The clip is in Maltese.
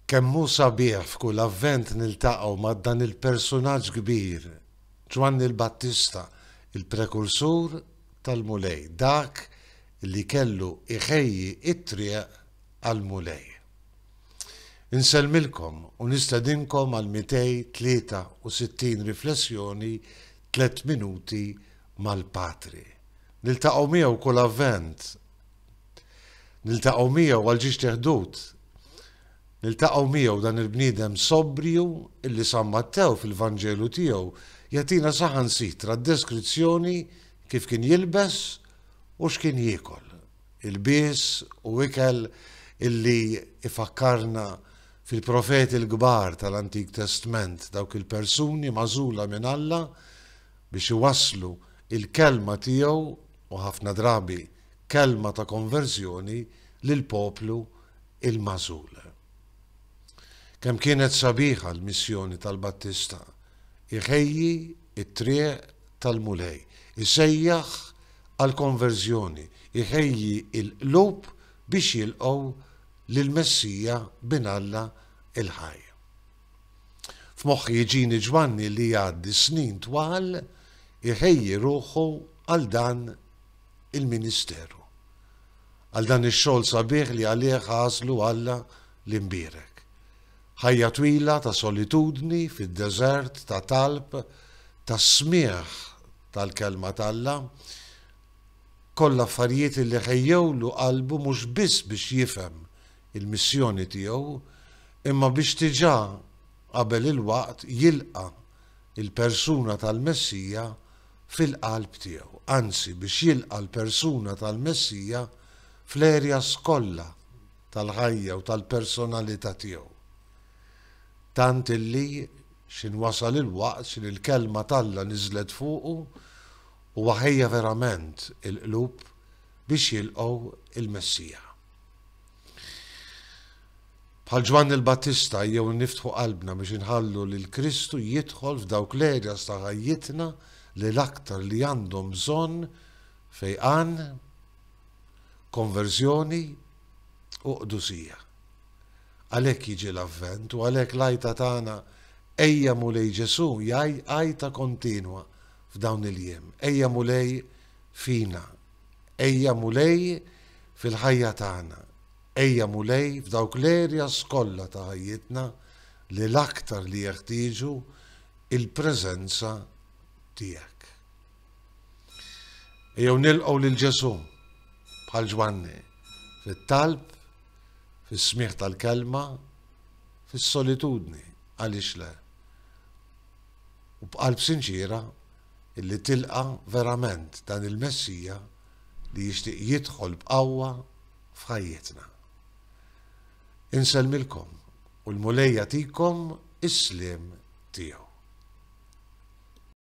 Kemm hu sabiħ f'kull Avvent niltaqgħu ma' dan il-persunaġġ kbir, Ġwanni l-Battista, il-prekursur tal-Mulej, dak li kellu jħejji t-triq għall-Mulej. Insellmilkom u nistedinkom għall-263 riflessjoni Tliet Minuti mal-Patri. Niltaqgħu miegħu kull Avvent! Niltaqgħu miegħu għal ġiex teħdut. Niltaqgħu miegħu dan il-bniedem sobriju illi San Mattew fil-Vanġelu tiegħu jagħtina saħansitra d-deskrizzjoni kif kien jilbes u x'kien jiekol. Ilbies u ikel illi ifakkarna fil-profeti l-kbar tal-Antik Testment dawk il-persuni magħżula minn Alla biex iwasslu il-kelma tiegħu u ħafna drabi kelma ta' konverżjoni lill-poplu l-magħżul. Kemm kienet sabiħa l-missjoni tal-Battista, iħejji t-triq tal-Mulej, isejjaħ għall-konverżjoni, iħejji l-qlub biex jilqgħu lill-Messija Bin Alla l-ħaj. F'moħħi jġini Ġwanni li jgħaddi snin twal iħejji ruħu għal dan il-ministeru, għal dan ix-xogħol sabiħ li għalih għażlu Alla l-imbierek. Ħajja twila ta' solitudni fid-deżert ta' talb, ta' smigħ tal-Kelma t'Alla, kollha affarijiet li ħejjewlu qalbu mhux biss biex jifhem il-missjoni tiegħu, imma biex diġà qabel il-waqt jilqa' l-persuna tal-Messija fil-qalb tiegħu, anzi biex jilqa' l-persuna tal-Messija fl-areas kollha tal-ħajja u tal-personalità tiegħu. Tant illi x'in wasal il-waqt x'in l-Kelma t'Alla niżlet fuqu u waħejja verament il-qlub biex jilqgħu l-Messija. Bħal Ġwanni l-Battista ejjew niftħu qalbna biex inħallu lil Kristu jidħol f'dawk l-areas ta' ħajjitna li l-aktar li għandhom bżonn fejqan, konverżjoni u qdusija. Għalhekk jiġi l-Avvent u għalhekk l-għajta tagħna Ejja Mulej Ġesù hija għajta kontinwa f'dawn il-jiem. Ejja Mulej fina. Ejja Mulej fil-ħajja tagħna. Ejja Mulej f'dawk l-areas kollha ta' ħajjitna li l-aktar li jeħtieġu il-preżenza tiegħek. Ejjew nilqgħu lil Ġesù bħal Ġwanni fit-talb, fis-smigħ tal-kelma, fis-solitudni għaliex le. U b'qalb sinċiera illi tilqa' verament dan il-Messija li jixtieq jidħol b'qawwa f'ħajjitna. Insellmilkom u l-Mulej jagħtikom is-sliem tiegħu.